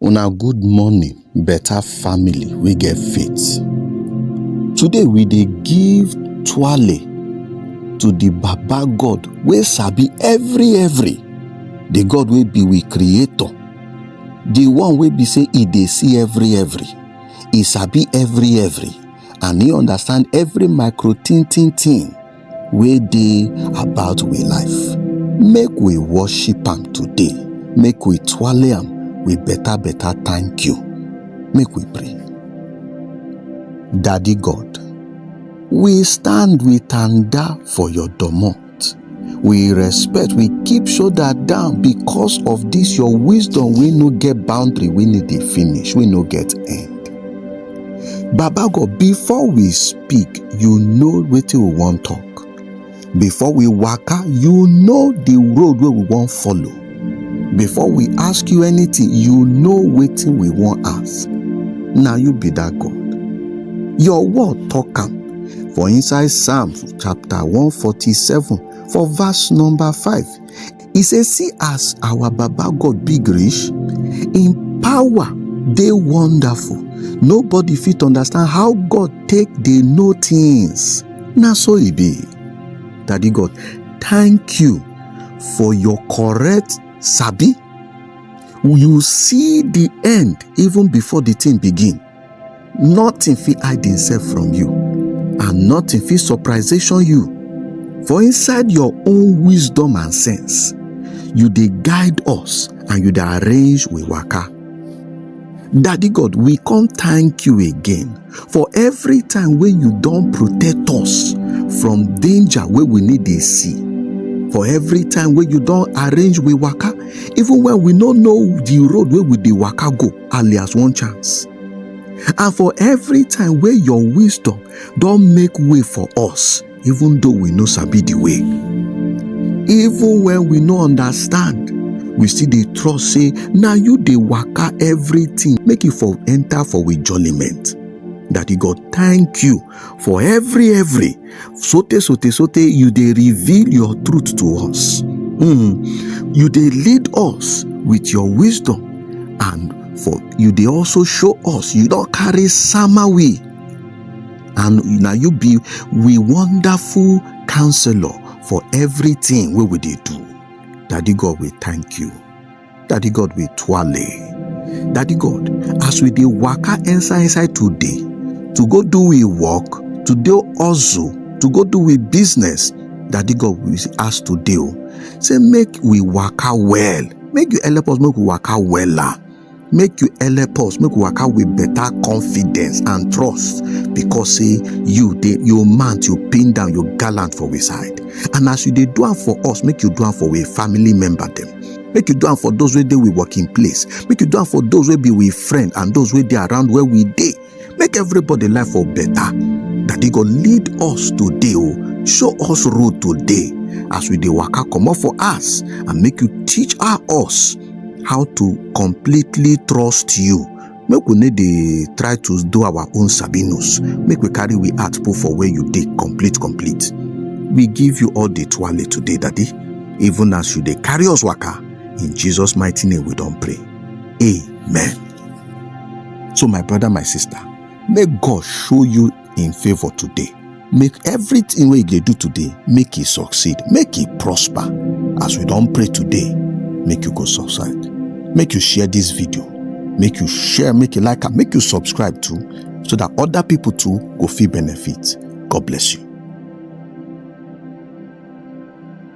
Una good morning better family wey get faith. Today we dey give twale to the baba God wey sabi every every, the God wey be we creator, the one wey be say e dey see every every, e sabi every every and e understand every micro tin tin tin. wey dey about we life make we worship am today make we twale am with better better thank you make we pray daddy god we stand with tanda for your domot we respect we keep shoulder down because of this your wisdom wey no get boundary wey no dey finish wey no get end baba god before we speak you know wetin we wan talk before we waka you know the road wey we wan follow before we ask you anything you know wetin we wan ask na you be that god your word talk am for inside psalm chapter 147 for verse number 5 e say see as our baba god big reach im power dey wonderful nobody fit understand how god take dey know things na so e be daddy god thank you for your correct sabi you see the end even before the thing begin nothing fit hide himself from you and nothing fit surprisation you for inside your own wisdom and sense you dey guide us and you dey arrange we waka daddy god we come thank you again for every time wey you don protect us from danger wey we need dey see for every time wey you don arrange we waka even when we no know the road wey we dey waka go alias one chance and for every time wey your wisdom don make way for us even though we no sabi the way even when we no understand we still dey trust say na you dey waka everything make e for enter for we jollyment daddy god thank you for every every Sote, sote, sote, you dey reveal your truth to us. Hmm. You dey lead us with your wisdom and for you dey also show us you don carry sama we and na you be we wonderful counselor for everything wey we dey do. Daddy God, we thank you. Daddy God we twale. Daddy God, as we dey waka inside inside today, to go do we work, to do hustle, to go do we business, Daddy God we ask today o. Say make we waka well, make you help us make we waka wella. Make you help us make we waka with better confidence and trust because say you dey you mount, you pin down, you gallant for we side. And as you dey do am for us, make you do am for we family member dem. make you do am for those wey dey we working place make you do am for those wey be we friend and those wey dey around where we dey make everybody life for better daddy go lead us today o show us road today as we dey waka comot for us and make you teach us how to completely trust you make we no dey try to do our own sabinus make we carry we heart put for where you dey complete complete we give you all the twale today daddy even as you dey carry us waka in jesus mighty name we don pray amen so my brother my sister make god show you in favour today make everything wey you dey do today make e succeed make e prosper as we don pray today make you go subside make you share this video make you share make you like am make you subscribe too so that other people too go fit benefit god bless you